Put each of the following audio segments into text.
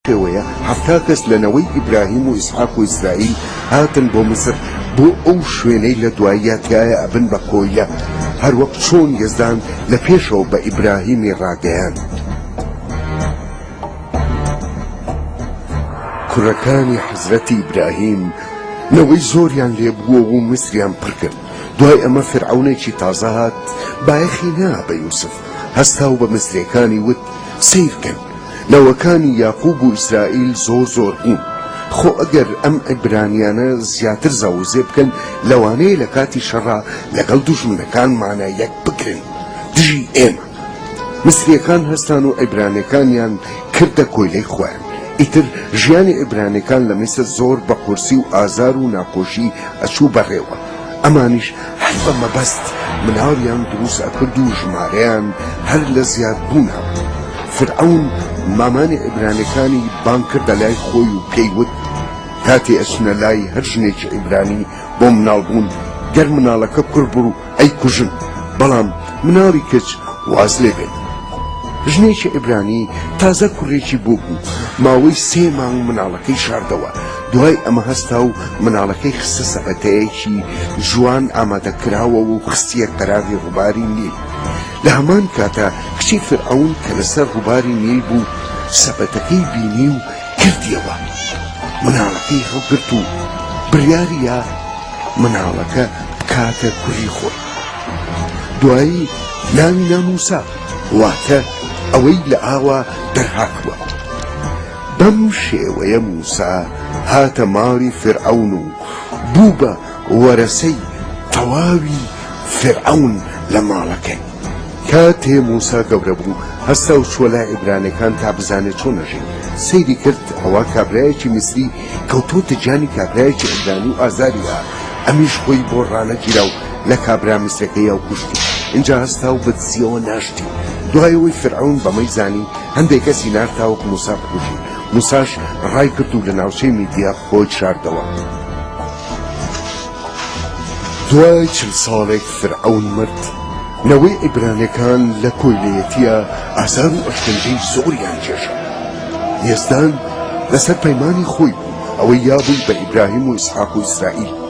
پێوەیە حەفتا کەس لە نەوەی ئیبراهیم و ئیسحاق و ئیسرائیل هاتن بۆ میسر بۆ ئەو شوێنەی لە دواییە تیایە ئەبن بە کۆیلە هەروەک چۆن یەزدان لە پێشەوە بە ئیبراهیمی ڕاگەیاند کوڕەکانی حەزرەتی ئیبراهیم نەوەی زۆریان لێبووە و میسریان پڕکرد دوای ئەمە فرعونێکی تازە هات بایەخی نا بە یوسف هەستا و بە میسرەکانی وت سیرکەن نەوەکانی یاقوب و ئیسرائیل زۆر زۆر بوون خۆ ئەگەر ئەم عیبرانیانە زیاتر زاووزێ بکەن لەوانەیە لە کاتی شەڕا لەگەڵ دوژمنەکانمانا یەک بگرن دژی ئێمە میسریەکان هەستان و عیبرانیەکانیان کردە کۆیلەی خۆیان ئیتر ژیانی عیبرانیەکان لە میسر زۆر بە قورسی و ئازار و ناخۆشی ئەچوو بەڕێوە. ئەمانیش هەر بە مەبەست مناڵیان دروست ئەکرد و ژمارەیان هەر لە زیاد بوونا فرعەون مامانی عیبرانیەکانی بانگ کردە لای خۆی و پێی وت کاتێ ئەچنە لای هەر ژنێکی عیبرانی بۆ مناڵ بوون گەر مناڵەکە کوڕ بڕ و ئەی کوژن بەڵام مناڵی کچ واز لێ بێت ژنێکی عیبرانی تازە کوڕێکی بۆ بوو ماوەی سێ مانگ مناڵەکەی شاردەوە دوای ئەمە هەستا و مناڵەکەی خستە سەبەتەیەکی جوان ئامادەکراوەوە و خستیە قەراغی ڕوباری نیل لە هەمان کاتا کچی فرعەون کە لەسەر ڕوباری نیل بوو سەبەتەکەی بینی و کردیەوە مناڵەکەی هەڵگرت و بڕیاریە مناڵەکە بکاتە کوڕی خۆی دوایی ناوی ناموسا واتە ئەوەی لە ئاوا دەرهاتوە بەم شێوەیە موسا هاتە ماڵی فیرعەون و بوو بە وەرەسەی تەواوی فیرعەون لە ماڵەکەی. کاتێ موسا گەورە بوو هەستا و چووە لای عیبرانەکان تا بزانێ چۆن ئەژین. سەیری کرد ئەوا کابرایەکی میسری کەوتووەتە گیانی کابرایەکی عیبرانی و ئازاری ئەدا، ئەمیش خۆی بۆ ڕانەگیرا و لە کابرا میسرەکەی ئەو کوشتی اینجا هەستا و بەدزیەوە ناشتی دوایەوەی فرعون بەمەی زانی هەندێک کەسی نار تاوەک موسا بکوژی موساش ڕای کرد و لە ناوچەی میدیا خۆی شاردەوە دوای چل ساڵێک فرعون مرد نەوەی ئیبرانەکان لە کۆیلەتیە ئازار و ئەشتنجەی زۆریان کێشە یزدان لەسەر پەیمانی خۆی بوو ئەوەی یابووی بە ئیبراهیم و ئیسحاق و ئیسرائیل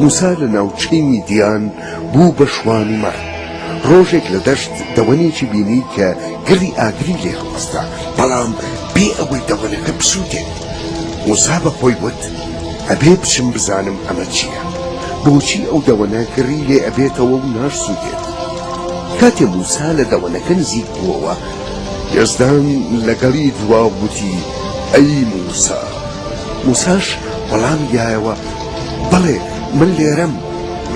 موسا لە ناوچەی میدیان بوو بە شوان و مەرد ڕۆژێک لە دەشت دەوەنێکی بینی کە گڕی ئاگری لێ هەڵستا بەڵام بێ ئەوەی دەوەنەکە بسووتێت موسا بە خۆی وت ئەبێ بچم بزانم ئەمە چییە بۆچی ئەو دەوەنە گڕی لێ ئەبێتەوە و ناشسووتێت کاتێ موسا لە دەوەنەکە نزیک بووەوە یەزدان لەگەڵی دوا وتی ئەی موسا موساش وەڵامی دایەوە بەڵێ من لێرەم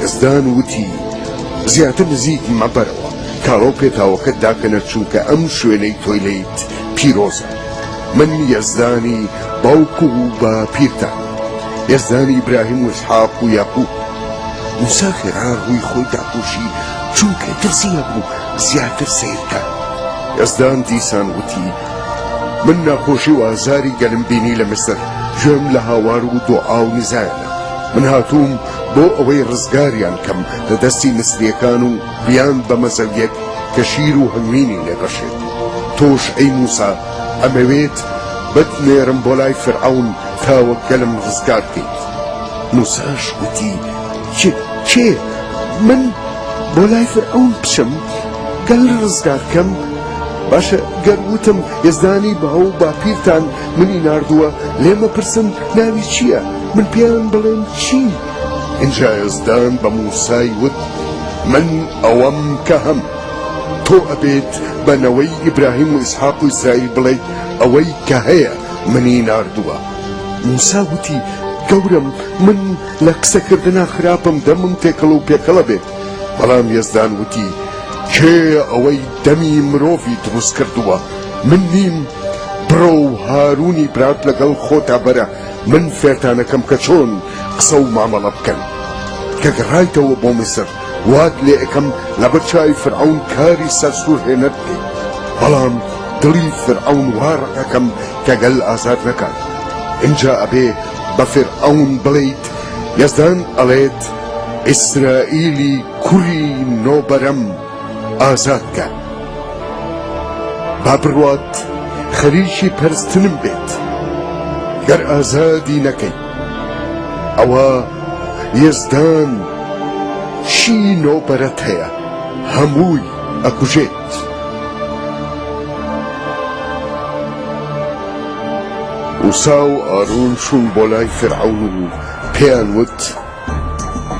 یەزدان وتی زیاتر نزیک مەبەرەوە کاڵۆ پێتاوەکەت داکەنە چونکە ئەم شوێنەی تۆی لیت پیرۆزە من یەزدانی باوک و بە پیرتان یەزدانی ئیبراهیم و ئیسحاق و یاقوب موسا خێرا ڕووی خۆی داپۆشی چونکە ترسی هەبوو زیاتر سیرکە یەزدان دیسان وتی من ناخۆشی و ئازاری گەلم بینی لە میسر گوێم لە هاوار و دۆعا و نیزایانە من هاتووم بۆ ئەوەی ڕزگاریان کەم لە دەستی میسریەکان و بیان بە مەزەویەک کە شیر و هەنگوینی لێ بەخشێت تۆش ئەی موسا ئەمەوێت بت نێرم بۆ لای فیرعەون تا وەک گەلم ڕزگار بکەیت موساش گوتی کێ من بۆ لای فیرعەون بچم گەل ڕزگار کەم باشە گەر وتم یەزدانی باو و باپیرتان منی ناردووە لێم ئەپرسن ناوی چییە؟ من پێیان بڵێم چی؟ ئینجا یەزدان بە موسای وت من ئەوەم کە هەم. تۆ ئەبێت بە نەوەی ئیبراهیم و ئیسحاق و ئیسرائیل بڵێیت ئەوەی کە هەیە منی ناردووە. موسا وتی گەورەم من لە قسەکردنا خراپم دەمم تێکەڵ و پێکەڵە بێت. بەڵام یەزدان وتی کێیە ئەوەی دەمی مرۆڤی دروست کردووە من نیم بڕۆ و هارونی برات لەگەڵ خۆتا بەرە من فێرتانەکەم کە چۆن قسە و مامەڵە بکەن کە گەڕایتەوە بۆ میسر وات لێ ئەکەم لە بەرچوی فرعون کاری سەرسوور هێنەر بکەیت بەڵام دڵی فرعون وا ڕقەکەم کە گەل ئازاد نەکات اینجا ئەبێ بە فرعون بڵیت یەزدان ئەڵێت ئیسرائیلی کوری نۆ بەرەم ئازاد کە با بڕوات خەریکی پەرستنم بێت گەر ئازادی نەکەی ئەوە یزدان شی نۆ بەرەت هەیە هەمووی ئەکوژێت وسا و ئارون چوون بۆ لای فرعون و پێیان وت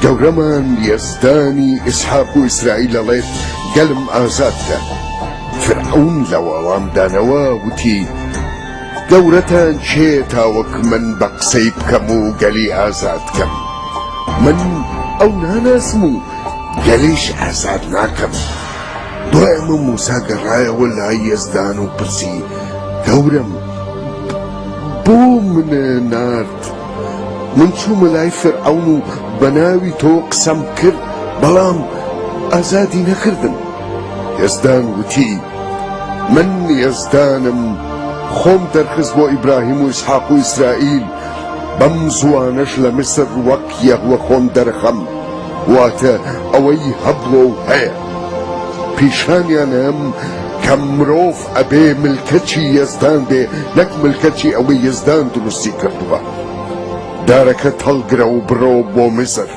گەورەمان یەزدانی ئیسحاق و ئیسرائیل دەڵێت گەلم ئازاد کە فرعون لە وەڵامدانەوە وتی گەورەتان چێ تاوەک من بە قسەی بکەم و گەلی ئازاد کەم من ئەو ناناسم و گەلیش ئازاد ناکەم دوایمە موسا گەڕایەوە لای یەزدان و پرسی گەورم بۆ منە نار من چوومە لای فیرعەون و بە ناوی تۆ قسەم کرد، بەڵام ئازادی نەکردم. یەزدان وتی، من یەزدانم، خۆم دەرخست بۆ ئیبراهیم و ئیسحاق و ئیسرائیل، بەم زووانەش لە میسر وەک یەهوە خۆم دەرەخەم، واتە ئەوەی هەبووە و هەیە. پیشانیان ئەم کە مرۆڤ ئەبێ ملکەچی یەزدان بێ نەک ملکەچی ئەوەی یەزدان دروستی کردووە دارەکەت هەڵگرە و بڕۆ بۆ میسر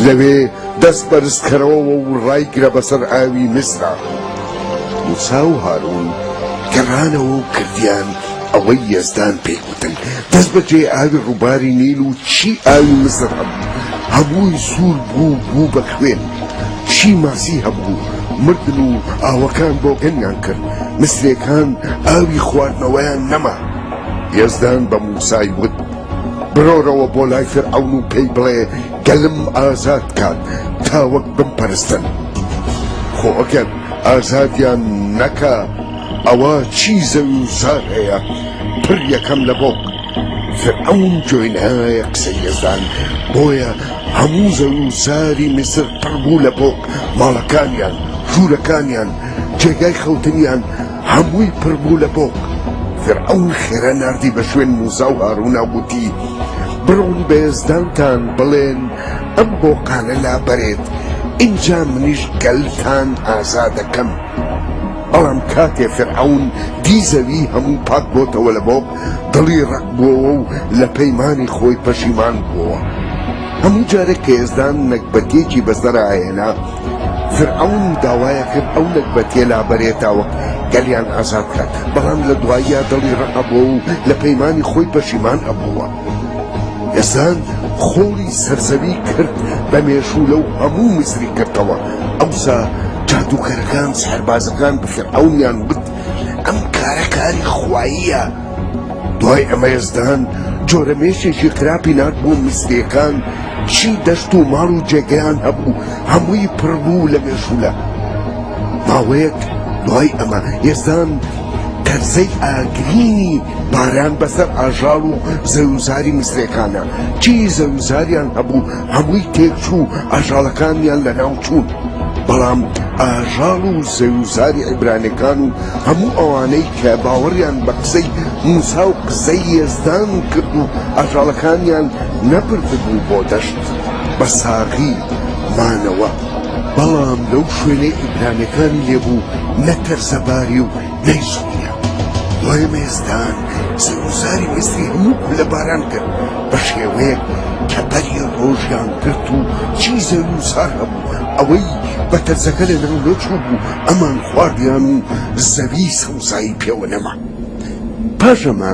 لەوێ دەست بەرز کەرەوەوە و ڕایگرە بەسەر ئاوی میسرا موسا و هارون گەڕانەوە و کردیان ئەوەی یەزدان پێی دەست بەجێ ئاوی ڕووباری نیل و چی ئاوی مزر هەبوو هەبووی سوور بوو بوو بە خوێن چی ماسی هەبوو مردن و ئاوەکان بۆگەنیان کرد مسرەکان ئاوی خواردنەوەیان نەما یەزدان بە موسای وت برۆرەوە بۆ لای فرعون و پێی بڵێ گەلم ئازاد کات تاوەک بمپەرستن خۆ ئەگەر ئازادیان نەکە ئەوە چی زەوی و زار هەیە پر یەکەم لە بۆق فرعەون گوێی نایە قسەی یەزدان بۆیە هەموو زەوی و زاری میسر پڕ بوو لە بۆق ماڵەکانیان ژوورەکانیان جێگای خەوتنیان هەمووی پڕ بوو لە بۆق فرعەون خێرا ناردی بە شوێن موسا و هارونا وتی بڕۆن بە یەزدانتان بڵێن ئەم بۆقانە لابەرێت ئینجا منیش گەلتان ئازا دەکەم. بەڵام کاتێ فیرعەون دی زەوی هەموو پاک بۆتەوە لە بۆق، دڵی ڕەق بووەوە و لە پەیمانی خۆی پەشیمان بووەوە. هەموو جارێک کە یەزدان نەگبەتێکی بەسەرا ئەهێنا، فیرعەون داوایەکرد ئەو نەگبەتیە لابەرێ تاوەک گەلیان ئازاد کات، بەڵام لە دواییا دڵی ڕەق ئەبووەوە و لە پەیمانی خۆی پەشیمان ئەبووە. دەزان خۆڵی سەرزەوی کرد بە مێشوو لەو هەموو مزری کردەوە ئەوسا جادووکەرەکان سەربازەکان بفرعونیان وت ئەم کارە کاری خواییە دوای ئەمە یزدان جۆرە مێشێکی خراپی نات بۆ میسرەکان چی دەشت و ماڵ و جێگەیان هەبوو هەمووی پڕبوو لە مێشولە ماوەیەک دوای ئەمە یزدان تەرزەی ئاگرینی باران بەسەر ئاژاڵ و زەویوزاری میسرێکانا، چیی زەویوزاریان هەبوو هەمووی تێکچوو و ئاژاڵەکانیان لەناوچوون، بەڵام ئاژاڵ و زەویوزاری عیبرانێکان و هەموو ئەوانەی کە باوەڕیان بە قسەی موسا و قسەی یەزدان کرد و ئاژاڵەکانیان نەبردبوو بۆ دەشت، بە ساغی مانەوە. بەڵام لەو شوێنەی عیبرانێکانی لێ بوو، نە تەرزەباری و نەیسووتیان. دوای وێستان زەوزاری وێستی هەموو کولە باران کرد بە شێوەیەک کە بەری ڕۆژیان گرت و چی زەوزار هەبوو ئەوەی بە تەرزەکە لە ناو نەچوو بوو ئەمان خواردیان و زەوی سەوزایی پێوە نەما پاش ئەمە